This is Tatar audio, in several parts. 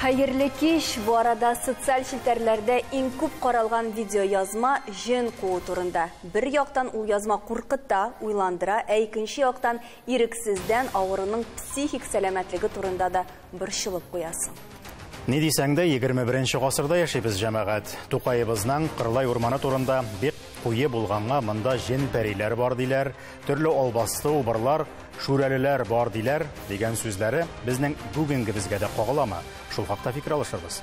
Хәерле кич! Бу арада социаль челтәрләрдә иң күп каралган видео язма җен куу турында. Бер яктан ул язма куркыта, уйландыра, ә икенче яктан ирексездән авыруның психик сәламәтлеге турында да борчылып куясың. Ни дисәң дә, 21 гасырда яшибез, җәмәгать. Тукаебызның Кырлай урманы турында бик куе булганга, монда җен-пәриләр бар диләр, төрле албасты убырлар, шүрәлеләр бар диләр, дигән сүзләре безнең бүгенгебезгә дә кагыламы? Шул хакта фикер алышырбыз.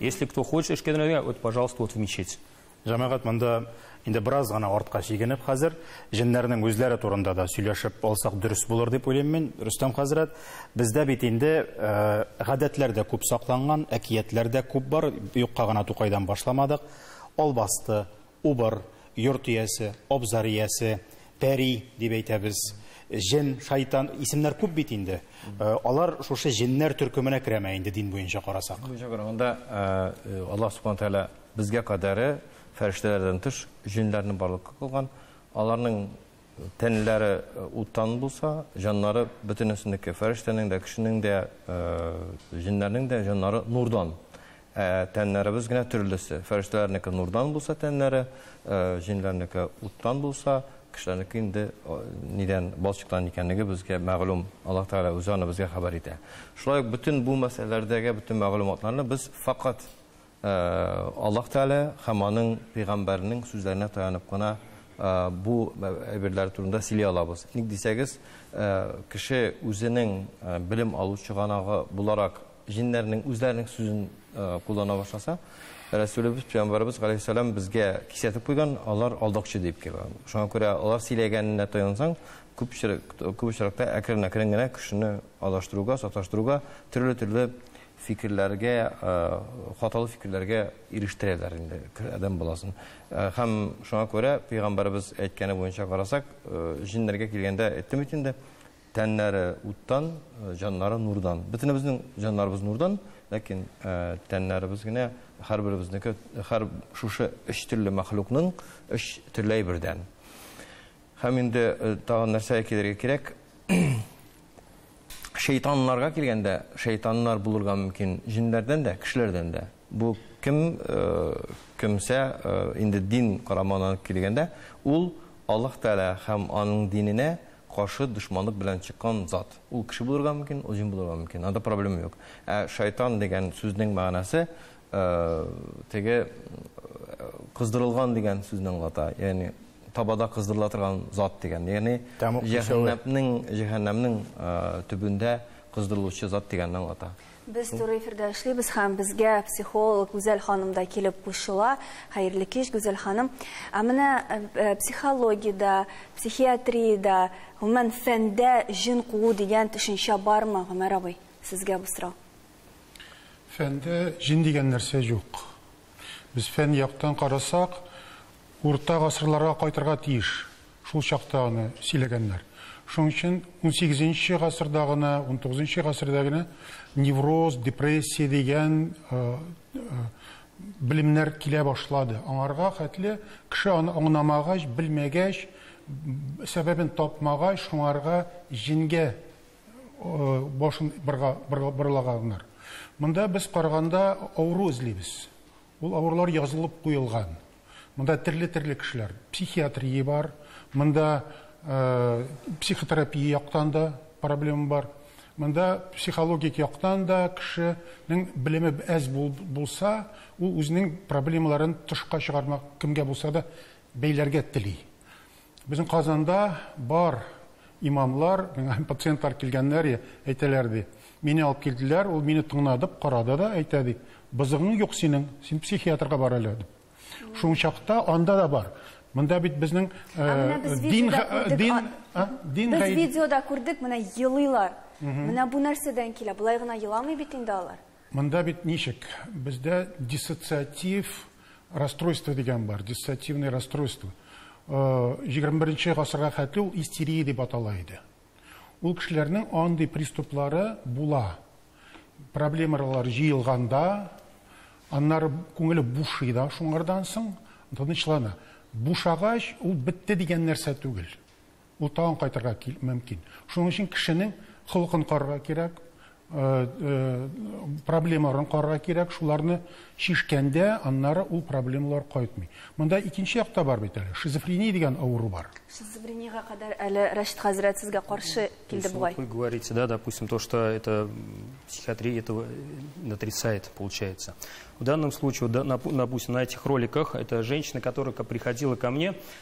Если кто хочет эшкә дөнәргә, вот, пожалуйста, вот в мечеть. Җәмәгать монда инде бераз гына артка чигенеп хәзер җеннәрнең үзләре турында да сөйләшеп алсак дөрес булыр дип уйлыйм мин, Рөстәм хәзрәт. Бездә бит инде э, гадәтләр дә күп сакланган, әкиятләр дә күп бар, юкка гына Тукайдан башламадык. Албасты, Убыр, йорт иясе, абзар иясе, пәри дип әйтәбез, җен, шайтан, исемнәр күп бит инде. Алар шушы җеннәр төркеменә керәме инде дин буенча карасак? Дин буенча караганда, Аллаһ Субхана Тәгалә безгә кадәре фәрештәләрдән тыш җеннәрне барлыкка кылган. Аларның тәннәре уттан булса, җаннары бөтенесенеке, фәрештәнең дә, кешенең дә, җеннәрнең дә җаннары нурдан. Ә тәннәребез генә төрлесе. Фәрештәләрнеке нурдан булса тәннәре, җиннәрнеке уттан булса, кешеләрнеке инде нидән, балчыктан икәнлеге безгә мәгълүм. Аллаһ Тәгалә үзе аны безгә хәбәр итә. Шулай ук бөтен бу мәсьәләләрдәге бөтен мәгълүматларны без факат Аллаһ Тәгалә һәм аның пәйгамбәренең сүзләренә таянып кына бу әйберләр турында сөйли алабыз. Ник дисәгез, кеше үзенең белем алу чыганагы буларак Җиннәрнең үзләренең сүзен куллана башласа, Рәсүлебез, пәйгамбәребез галәйһиссәлам безгә кисәтеп куйган, алар алдакчы дип. Шуңа күрә алар сөйләгәненә таянсаң, күп күп очракта әкрен-әкрен генә кешене адаштыруга, саташтыруга, төрле-төрле фикерләргә, хаталы фикерләргә ирештерәләр инде адәм баласын. Һәм шуңа күрә пәйгамбәребез әйткәне буенча карасак, җиннәргә килгәндә әйттем бит инде, Тәннәре уттан, җаннары нурдан. Бөтенебезнең җаннарыбыз нурдан, ләкин тәннәребез генә һәрберебезнеке, һәр шушы өч төрле мәхлукның өч төрле әйбердән. Һәм инде тагын нәрсәгә килергә кирәк? Шәйтаннарга килгәндә, шәйтаннар булырга мөмкин җеннәрдән дә, кешеләрдән дә. Бу кем кемсә инде дин карамагына килгәндә, ул Аллаһ Тәгалә һәм аның диненә каршы дошманлык белән чыккан зат. Ул кеше булырга мөмкин, ул җен булырга мөмкин, анда проблема юк. Ә шайтан дигән сүзнең мәгънәсе теге кыздырылган дигән сүзне аңлата. Ягъни табада кыздырыла торган зат дигән. Ягъни Тәмуг кешәве. җәһәннәпнең җәһәннәмнең төбендә кыздырылучы зат дигәнне аңлата. Без туры эфирда эшлибез һәм безгә психолог Гүзәл ханым да килеп кушыла. Хәерле кич, Гүзәл ханым. Ә менә э, э, психологиядә, психиатриядә, гомумән фәндә җен куу дигән төшенчә бармы, Гомәр абый? Сезгә бу сорау. Фәндә җен дигән нәрсә юк. Без фән яктан карасак, урта гасырларга кайтырга тиеш. Шул чакта аны сөйләгәннәр. Шуның өчен унсигезенче гасырда гына, унтугызынчы гасырда гына невроз, депрессия дигән белемнәр килә башлады. Аңарга хәтле кеше аны аңнамагач, белмәгәч, сәбәбен тапмагач, шуңарга җенгә башын бырга, бырга, бырлаганнар. Монда без караганда авыру эзлибез. Ул авырулар язылып куелган. Монда төрле-төрле кешеләр. Психиатрия бар, монда э, психотерапия яктан да проблема бар. Монда психологик яктан да кешенең белеме әз бул, булса, ул үзенең проблемаларын тышка чыгармак кемгә булса да бәйләргә тели. Безнең Казанда бар имамлар, миңа пациентлар килгәннәр и, әйтәләр, ди, мине алып килделәр, ул мине тыңнадып, карады да, әйтә, ди, бозыгың юк синең, син психиатрга бар әле, дип. Шул чакта анда да бар. Монда бит безнең дин дин дин Без видеода күрдек, менә елыйлар. Менә бу нәрсәдән килә? Болай гына еламый бит инде алар. Монда бит ничек? Бездә диссоциатив расстройство дигән бар, диссоциативное расстройство. 21 нче гасырга хәтле ул истерия дип атала иде. Ул кешеләрнең андый приступлары була. Проблемалар җыелганда, аннары күңеле бушый да шуңардан соң, тынычлана. Бушагач, ул бетте дигән нәрсә түгел. ул тагын кайтырга мөмкин. Шуның өчен кешенең холкын карарга кирәк, проблемаларын карарга кирәк, шуларны чишкәндә, аннары ул проблемалар кайтмый. Монда икенче як та бар бит әле, шизофрения дигән авыру бар. Шизофрениягә кадәр әле Рәшит хәзрәт сезгә каршы килде бугай. Вы говорите, да, допустим, то, что это психиатрия этого отрицает, получается. В данном случае, допустим, на этих роликах, это женщина, которая приходила ко мне,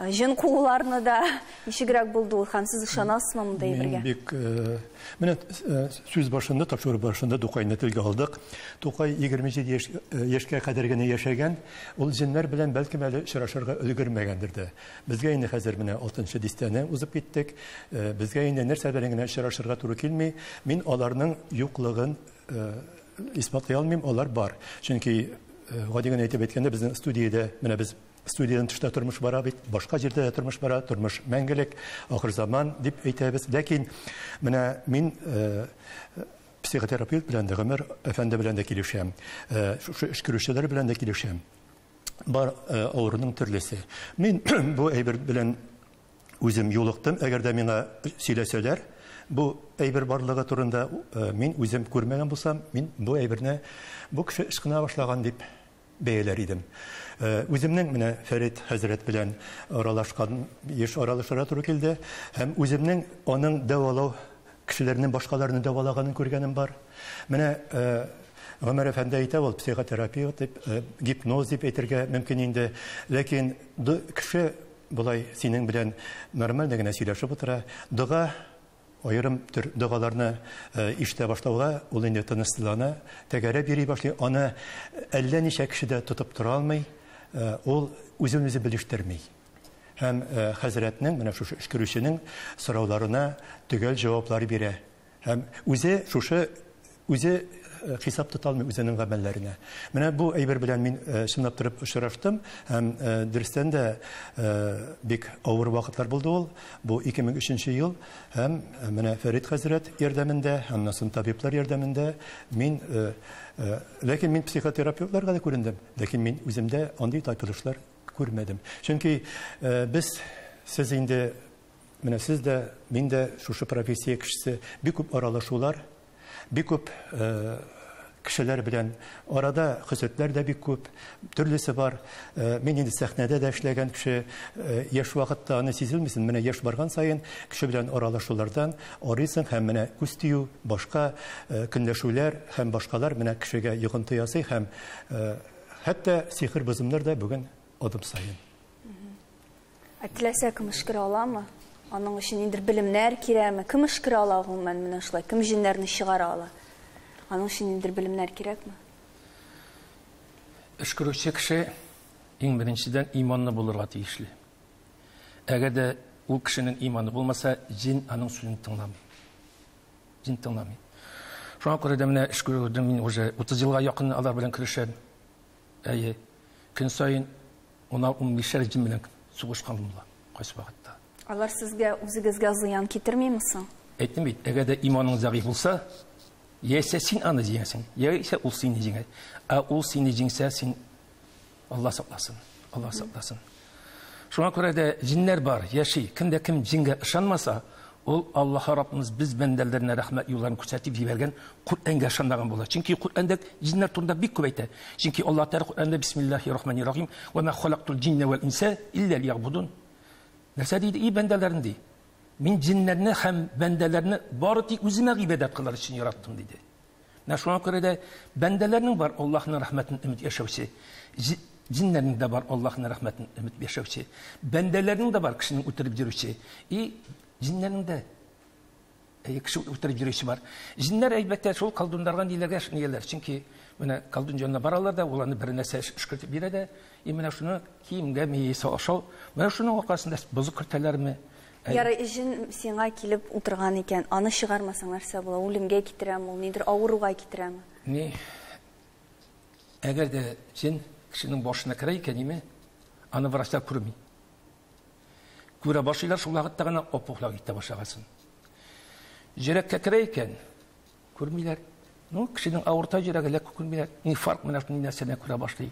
Җен кууларны да ничегрәк булды ул һәм сез ышанасызмы монда әйбергә? Мин бик э, менә э, сүз башында, тапшыру башында Тукайны телгә алдык. Тукай 27 яшь, э, яшькә кадәр генә яшәгән. Ул җеннәр белән бәлкем әле очрашырга өлгермәгәндер дә. Безгә инде хәзер менә 6 дистәне узып киттек. Безгә инде нәрсә белән генә очрашырга туры килми. Мин аларның юклыгын исбатлый алмыйм, алар бар. Чөнки гади генә әйтеп әйткәндә, безнең студиядә менә без Студиянең тышында тормыш бара бит, башка җирдә дә тормыш бара, тормыш мәңгелек, ахыр заман дип әйтәбез. Ләкин менә мин э, психотерапевт белән дә, Гомер әфәнде белән дә килешәм, э, шушы эш керүчеләр белән дә килешәм. Бар э, авыруның төрлесе. Мин бу әйбер белән үзем юлыктым, әгәр дә миңа сөйләсәләр, бу әйбер барлыгы турында э, мин үзем күрмәгән булсам, мин бу әйберне бу кеше ышкына башлаган дип бәяләр идем. Үземнең менә Фәрит хәзрәт белән аралашкан, еш аралашырга туры килде. Һәм үземнең аның дәвалау, кешеләрнең башкаларны дәвалаганын күргәнем бар. Менә Гомәр әфәнде әйтә ул, психотерапия дип, гипноз дип әйтергә мөмкин инде. Ләкин кеше болай синең белән нормально генә сөйләшеп утыра, дога Аерым төр догаларны ишетә башлауга, ул инде тынычсызлана, тәгәрәп йөри башлый, аны әллә ничә кеше дә тотып тора алмый, ул үзен-үзе белештерми һәм хәзрәтнең, менә шушы өшкерүченең сорауларына төгәл җаваплар бирә һәм үзе шушы Үзе хисап тота алмый үзенең гамәлләренә. Менә бу әйбер белән мин чынлап торып очраштым һәм дөрестән дә бик авыр вакытлар булды ул. Бу 2003 ел һәм менә Фәрит хәзрәт ярдәмендә, аннан соң табиблар ярдәмендә мин ләкин мин психотерапевтларга да күрендем, ләкин мин үземдә андый тайпылышлар күрмәдем. Чөнки без сез инде менә сез дә, мин дә шушы профессия кешесе бик күп аралашулар Бик күп кешеләр белән арада хөсетләр дә бик күп, төрлесе бар. Э, мин инде сәхнәдә дә эшләгән кеше, э, яшь вакытта аны сизелмисен, менә яшь барган саен кеше белән аралашулардан арыйсың һәм менә күз тию, башка э, көнләшүләр һәм башкалар менә кешегә йогынты ясый һәм хәтта сихер бозымнар да бүген адым саен. Ә теләсә кем өшкерә аламы? Аның өчен ниндер белемнәр кирәкме? Кем өшкерә ала гомумән менә шулай? Кем җеннәрне чыгара ала? Аның өчен ниндер белемнәр кирәкме? Өшкерүче кеше иң беренчедән иманлы булырга тиешле. Әгәр дә ул кешенең иманы булмаса, җин аның сүзен тыңламый. Җин тыңламый. Шуңа күрә дә менә өшкерүдә мин уже 30 елга якын алар белән көрәшәм. Әйе, көн саен унар-унбишәр җен белән сугышкан ул да кайсы вакытта. Алар сезгә, үзегезгә зыян китермиме соң? Әйттем бит, әгәр дә иманың зәгыйфь булса, яисә син аны җиңәсең, яисә ул сине җиңә. Ә ул сине җиңсә, син Алла сакласын, Алла сакласын. Шуңа күрә дә җиннәр бар, яши. Кем дә кем җингә ышанмаса, ул Аллаһы Раббыбыз без бәндәләренә рәхмәт юлларын күрсәтеп җибәргән Коръәнгә ышанмаган була. Чөнки Коръәндә җиннәр турында бик күп әйтә. Чөнки Аллаһ Тәгалә Коръәндә Бисмиллаһи рахмани рахим, Вә мә халактул җиннә вәл инсә илля лиябудун. Нәрсә диде, и бәндәләрем, ди. Мин җиннәрне һәм бәндәләрне бары тик үземә гыйбадәт кылыр өчен яраттым, диде. Менә шуңа күрә дә бәндәләрнең бар Аллаһның рәхмәтен өмет яшәүче, җиннәрнең дә бар Аллаһның рәхмәтен өмет яшәүче, бәндәләрнең дә бар кешене үтереп йөрүче, и җиннәрнең дә әйе кеше үтереп йөрүче бар. Җиннәр әлбәттә шул колдуннарга ниләргә эшнеяләр, чөнки менә колдун җанына баралар да, ул аны бер нәрсә эшкертеп бирә дә, и менә шуны киемгә миясе ашау, менә шуның аркасында бозык кертәләрме, Ярый, җен сиңа килеп утырган икән, аны чыгармасаң нәрсә була? Үлемгә китерәме ул, нидер авыруга китерәме? Ни, әгәр дә җен кешенең башына керә икән, име, аны врачлар күрми. Күрә башлыйлар шул вакытта гына опухлар китә башлагасын. Җөрәккә керә икән, күрмиләр. Ну, кешенең авырта җөрәге ләк күрмиләр. Ни фарк менә шундый нәрсәне күрә башлый.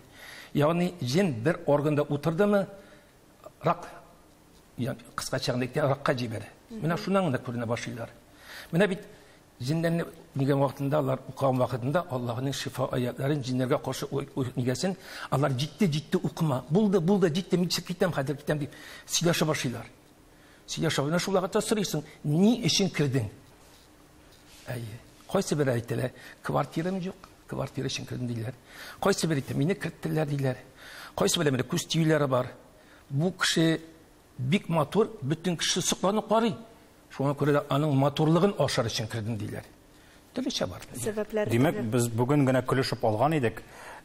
Ягъни җен бер органда утырдымы, рак кыскача гына әйткәндә ракка җибәрә менә шуннан гына күренә башлыйлар менә бит җеннәрне дигән вакытында алар укыган вакытында аллаһының шифа аятларын җиннәргә каршы нигәсен алар җитте җитте укыма булды булды җитте мин китәм хәзер китәм дип сөйләшә башлыйлар сөйләшә менә шул вакытта сорыйсың ни өчен кердең Әйе. Кайсы бер әйтелә, квартирам юк, квартира өчен кердем диләр. Кайсы бер әйтә, мине керттеләр диләр. Кайсы бер әйтә, күз тиюләре бар. Бу кеше бик матур, бөтен кеше сокланып карый. Шуңа күрә дә аның матурлыгын ашар өчен кердем диләр. Төрлечә бар. Сәбәпләр. Димәк, без бүген генә көлешеп алган идек.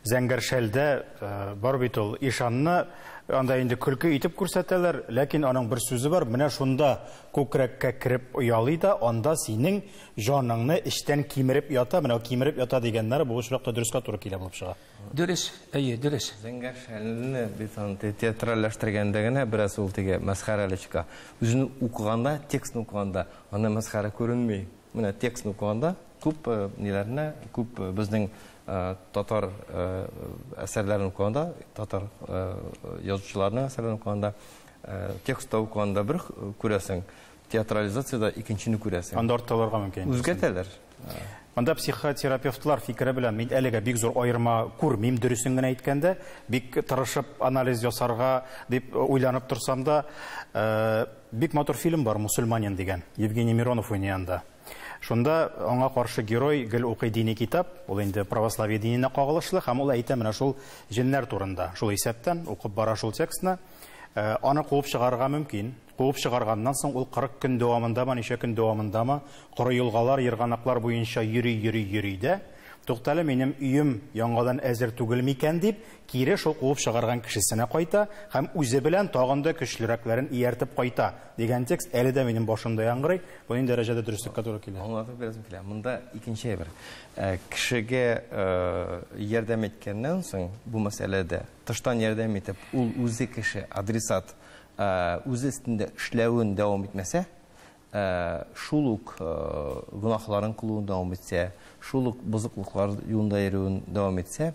Зәңгәршәлдә э, бар бит ул ишанны анда инде көлке итеп күрсәтәләр, ләкин аның бер сүзе бар, менә шунда Күкрәккә кереп оялый да, анда синең җаныңны эчтән кимереп ята, менә кимереп ята дигәннәре бу очракта дөрескә туры килә булып чыга. Дөрес, әйе, дөрес. Зәңгәр шәлне без андый театральләштергәндә генә бераз ул теге мәсхәрәле чыга. Үзен укыганда, текстны укыганда аны мәсхәрә күренми. Менә текстны укыганда күп ниләрне, күп безнең татар әсәрләрен укыганда, татар язучыларның әсәрләрен укыганда Э, текстта укыганда бер күрәсең театрализацияда икенчене күрәсең анда артта аларга мөмкин үзгәртәләр Монда психотерапевтлар фикере белән мин әлегә бик зур аерма күрмим, дөресен генә әйткәндә, бик тырышып анализ ясарга дип э, уйланып торсам да, э, бик матур фильм бар Мусульманин дигән, Евгений Миронов уйнаянда. Шунда аңа каршы герой гел укый дини китап, ул инде православие диненә кагылышлы һәм ул әйтә менә шул җеннәр турында. Шул исәптән укып бара шул текстны. Э, аны куып чыгарырга мөмкин. Куып чыгарганнан соң ул 40 көн дәвамындамы, ничә көн дәвамындамы, коры елгалар, ерганаклар буенча йөри, йөри, йөри дә, туктале минем өем яңадан әзер түгел микән дип, кире шул куып чыгарган кешесенә кайта һәм үзе белән тагын да көчлерәкләрен ияртеп кайта дигән текст әле дә минем башымда яңгырый. Бу нинди дәрәҗәдә дөреслеккә туры килә? Аңлатып бирәсем килә. Монда икенче әйбер. Э, кешегә э, ярдәм иткәннән соң бу мәсьәләдә Тыштан ярдәм итеп, ул үзе кеше, адресат, үзе өстендә эшләвен дәвам итмәсә, шул ук гөнаһларын кылуын дәвам итсә, шул ук бозыклыклар юлында йөрүен дәвам итсә,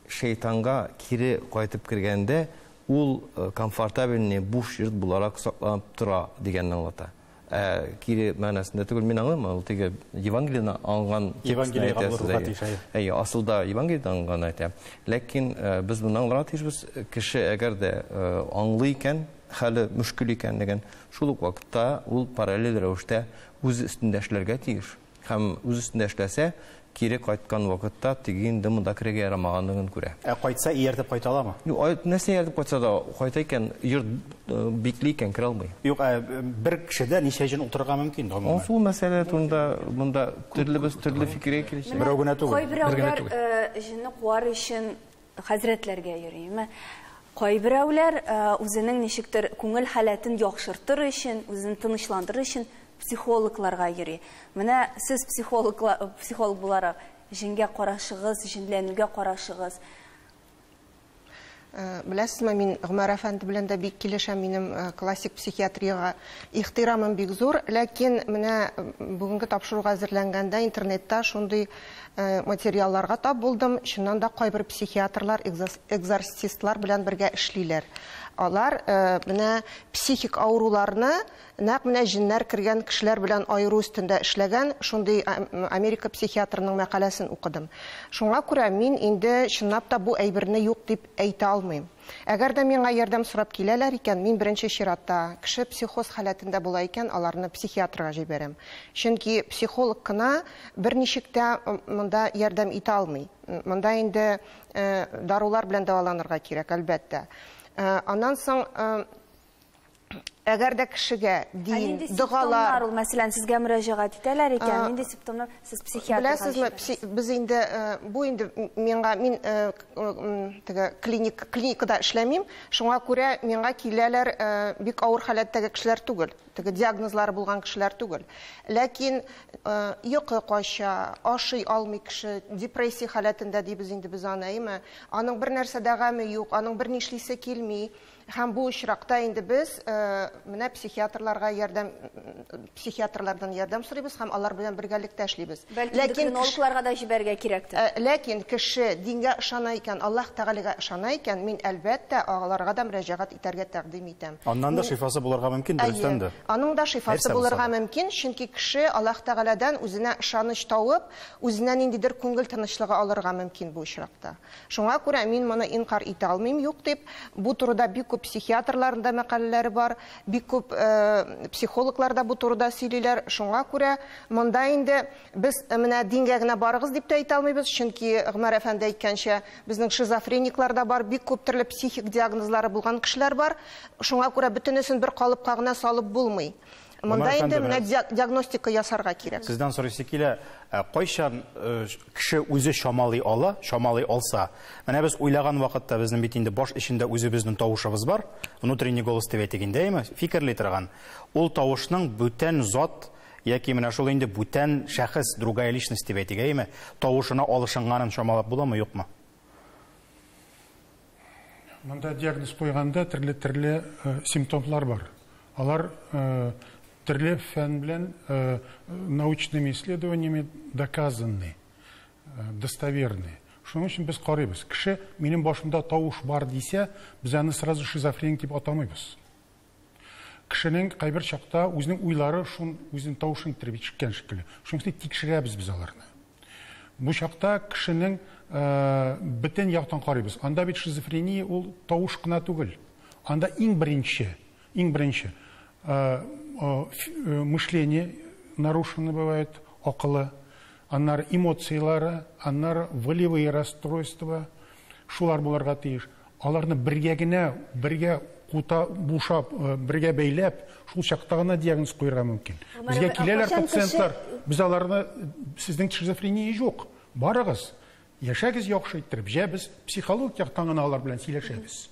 шәйтанга кире кайтып кергәндә, ул комфортабельный буш йорт буларак сакланып тора дигәнне аңлата. Ә кире мәгънәсендә түгел, мин аңлыйм, ул теге Евангелиене алган текстны әйтәсе. Әйе, асылда Евангелиене алган әйтә. Ләкин э, без моны аңларга тиешбез, кеше әгәр дә э, аңлый икән, хәле мөшкел икәнлеген, шул ук вакытта ул параллель рәвештә үз өстендә эшләргә тиеш. Һәм үз өстендә эшләсә, кире кайткан вакытта теге инде монда керергә ярамаганлыгын күрә. Ә кайтса, ияртеп кайта аламы? Юк, ай, нәрсә ияртеп кайтса да, кайта икән, йорт э, бикли икән, керә алмый. Юк, ә бер кешедә ничә җен утырырга мөмкин? гомумән? Ансу мәсьәлә турында монда төрлебез төрле фикергә килешә. Менә Берәү генә түгел. Кайберәүләр э, җенне куар өчен Хәзрәтләргә йөри. Мә, кайберәүләр үзенең ничектер күңел халәтен яхшыртыр өчен, үзен тынычландырыр өчен психологларга йөри. Менә сез психологла, психолог буларак, җенгә карашыгыз, җенләнүгә карашыгыз? Беләсезме, мин Гомәр әфәнде белән дә бик килешәм, минем классик психиатриягә ихтирамым бик зур, ләкин менә бүгенге тапшыруга әзерләнгәндә интернетта шундый Материалларга тап булдым, чыннан да кайбер психиатрлар экзорцистлар белән бергә эшлиләр. Алар менә психик авыруларны нәкъ менә җеннәр кергән кешеләр белән аеру өстендә эшләгән, шундый Америка психиатрының мәкаләсен укыдым. Шуңа күрә мин инде чынлап та бу әйберне юк дип әйтә алмыйм. Әгәр дә миңа ярдәм сорап киләләр икән, мин беренче чиратта, кеше психоз халәтендә була икән, аларны психиатрга җибәрәм. Чөнки психолог кына берничек тә монда ярдәм итә алмый. Монда инде дарулар белән дәваланырга кирәк, әлбәттә. Аннан соң әгәр дә кешегә дин, догалар... ул, мәсәлән, сезгә мөрәҗәгать итәләр икән, нинди симптомнар сез психиатр Беләсезме, без инде, бу инде миңа, мин теге клиник, клиникада эшләмим, шуңа күрә миңа киләләр бик авыр халәттәге кешеләр түгел, теге диагнозлары булган кешеләр түгел. Ләкин йокы кача, ашый алмый кеше, депрессия халәтендә дибез инде без аны, әйеме? Аның бер нәрсә дә гаме юк, аның бер нишлисе килми, Һәм бу очракта инде без менә психиатрларга ярдәм, психиатрлардан ярдәм сорыйбыз һәм алар белән бергәлектә эшлибез. Бәлки эндокринологларга да җибәрергә кирәктер. Э, ләкин кеше дингә ышана икән, Аллаһ Тәгаләгә ышана икән, мин әлбәттә аларга да мөрәҗәгать итәргә тәкъдим итәм. Аннан да шифасы булырга мөмкин, дөрестән дә. Аның да шифасы булырга мөмкин, чөнки кеше Аллаһ Тәгаләдән үзенә ышаныч тауып, үзенә ниндидер күңел тынычлыгы алырга мөмкин бу очракта. Шуңа күрә мин моны инкарь итә алмыйм, юк дип, бу турыда бик күп психиатрларның да мәкаләләре бар, бик күп психологлар да бу турыда сөйлиләр. Шуңа күрә монда инде без менә дингә генә барыгыз дип тә әйтә алмыйбыз, чөнки Гомәр әфәнде әйткәнчә, безнең шизофрениклар да бар, бик күп төрле психик диагнозлары булган кешеләр бар. Шуңа күрә бөтенесен бер калыпка гына салып булмый. Монда инде менә диагностика ясарга кирәк. Сездән сорыйсы килә, ә кайчан э, кеше үзе чамалый ала, чамалый алса? Менә без уйлаган вакытта безнең бит инде баш эчендә үзебезнең тавышыбыз бар, внутренний голос дип әйтик инде, әйме? Фикерли торган. Ул тавышның бүтән зат яки менә шул инде бүтән шәхес, другая личность дип әйтик, әйме? Тавышына алышынганын чамалап буламы, юкмы? Монда диагноз куйганда төрле-төрле э, симптомлар бар. Алар э, төрле фән белән э, научными исследованиями доказаны, достоверны. Шуның өчен без карыйбыз. Кеше минем башымда тавыш бар дисә, без аны сразу шизофреник дип атамыйбыз. Кешенең кайбер чакта үзенең уйлары шун үзен тавышын тирбиткән шикелле. Шуның өчен тикшерәбез без аларны. Бу чакта кешенең бөтен яктан карыйбыз. Анда бит шизофрения ул тавыш кына түгел. Анда иң беренче, иң беренче мышление нарушено бывает, акылы, аннары эмоцияләре, аннары волевые расстройства, шулар булырга тиеш. Аларны бергә генә, бергә кута бушап, бергә бәйләп, шул чакта гына диагноз куярга мөмкин. Безгә киләләр пациентлар, без аларны, сезнең шизофрения юк, барыгыз, яшәгез яхшы иттереп, җә без психологик яктан гына алар белән сөйләшәбез.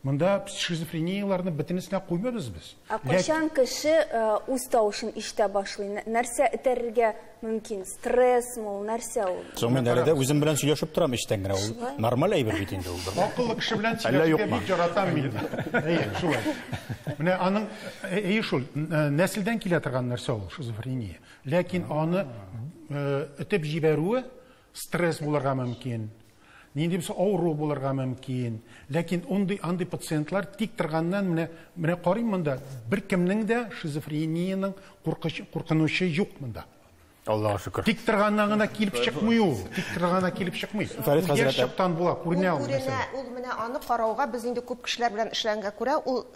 Монда шизофренияләрне бөтенесенә куймыйбыз без. Ә кайчан кеше үз тавышын ишетә башлый, нәрсә этәрергә мөмкин стрессмы ул нәрсә ул Соң мин әле дә үзем белән сөйләшеп торам эчтән генә. Ул Шулай. нормаль әйбер бит инде ул. бер. Акыллы кеше белән Әллә сөйләшергә юкмы? бик яратам мин. Әйе, шулай. Менә аның ә- әйе шул н- нәселдән килә торган нәрсә ул шизофрения. Ләкин аны э, этеп җибәрүе Стресс булырга мөмкин, нинди булса авыру булырга мөмкин. Ләкин ундый андый пациентлар тик торганнан менә менә карыйм монда беркемнең дә шизофрениянең куркыч куркынучы юк монда. Аллага шөкер. Тик торганнан гына килеп чыкмый ул. Тик торганнан килеп чыкмый. Фәрит хәзрәт. Яшь чактан була, күренә ул. Күренә, ул менә аны карауга без инде күп кешеләр белән эшләнгәнгә күрә, ул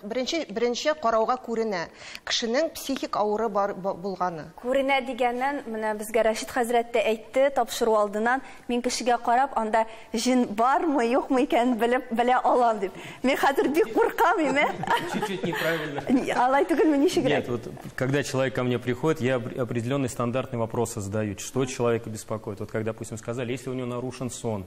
беренче беренче карауга күренә. Кешенең психик авыры бар булганы. Күренә дигәнен менә безгә Рәшит хәзрәт тә әйтте, тапшыру алдыннан, мин кешегә карап, анда җен бармы, юкмы икәнен белеп белә алам дип. Мин хәзер бик куркам име? Чуть-чуть неправильно. Алай түгелме, ничегрәк? Нет, вот когда человек ко мне приходит, я определенные стандартные вопросы задаю, что человека беспокоит. Вот как, допустим, сказали, если у него нарушен сон,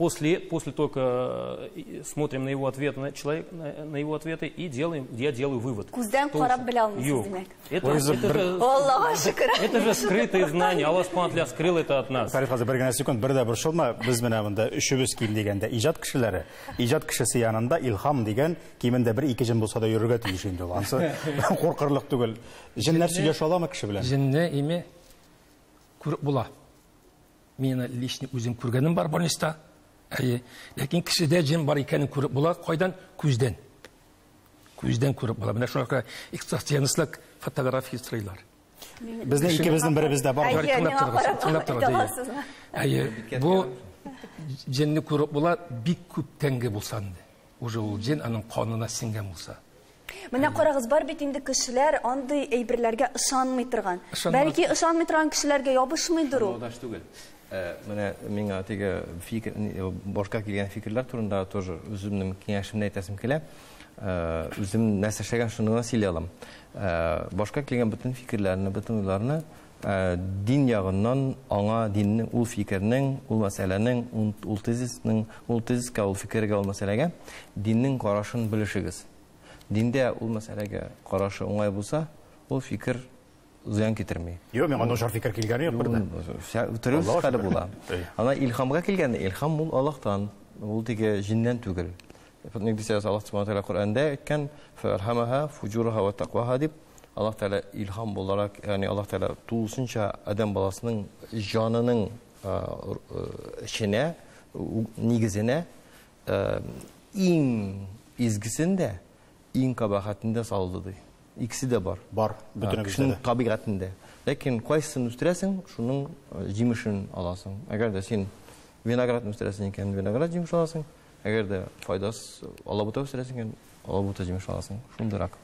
после, после только э, смотрим на его ответ, на, человек, на, на его ответы и делаем, я делаю вывод. Күздән карап белә алмыйсыз, демәк. Это, это, же, Аллаһ шөкер. Это же скрытые знания. Аллах Субхану скрыл это от нас. Фәрит хәзер бер генә секунд, бер дә борчылма. Без менә монда өчебез ким дигәндә, иҗат кешеләре, иҗат кешесе янында илһам дигән кимендә бер ике җен булса да йөрергә тиеш инде ул. Ансы куркырлык түгел. Җеннәр сөйләшә аламы кеше белән? Җенне име күреп була. Мин личный үзем күргәнем бар больниста. Әйе. Ләкин кешедә җен бар икәнен күреп була. Кайдан? Күздән. Күздән күреп була. Менә шуңа күрә экстрасенслык фотография стрыйлар. Безнең икебезнең беребездә бар. Әйе, тыңлап торыгыз. Тыңлап торыгыз. Әйе. Бу җинне күреп була бик күп тәңге булса инде. Уже ул җен аның канына сеңгән булса. Менә карагыз, бар бит инде кешеләр андый әйберләргә ышанмый торган. Бәлки ышанмый торган кешеләргә ябышмыйдыр ул. Андаш түгел. Э, менә миңа теге фикер, э, башка килгән фикерләр турында тоже үземнең киңәшемне әйтәсем килә. Э, үзем нәрсә эшләгән, шуны гына сөйли алам. Башка килгән бөтен фикерләрне, бөтен уйларны Ә дин ягыннан, аңа диннең, ул фикернең, ул мәсьәләнең, ул тезисның, ул тезиска, ул фикергә, ул мәсьәләгә диннең карашын белешегез. Диндә ул мәсьәләгә карашы уңай булса, ул фикер зыян китерми. Юк, миңа начар фикер килгәне юк бер дә. Төрлесе хәле була. Ана илһамга килгәндә, илһам ул Аллаһтан, ул теге җиннән түгел. Ник дисәгез, Аллаһ Субхану тәгалә Коръәндә әйткән, "Фархамаха фуҗураха ва тақваха" дип, Аллаһ Тәгалә илһам буларак, ягъни Аллаһ Тәгалә тулысынча адәм баласының җанының эченә, нигезенә иң изгесен дә, иң кабахәтен дә салды ди. Икесе дә бар. Бар, бөтенебездә дә. Табигатендә. Ләкин кайсысын үстерәсең, шуның җимешен аласың. Әгәр дә син виноградны үстерәсең икән, виноград җимеше аласың. Әгәр дә файдас алабута үстерәсең икән, алабута җимеш аласың. Шундыйрак.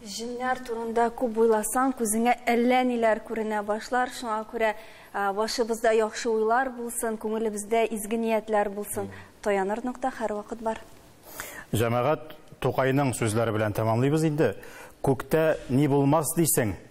Җеннәр турында күп уйласаң, күзеңә әллә ниләр күренә башлар. Шуңа күрә башыбызда яхшы уйлар булсын, күңелебездә изге ниятләр булсын. Таяныр нокта һәрвакыт бар. Җәмәгать Тукайның сүзләре белән тәмамлыйбыз инде. Күктә ни булмас дисең,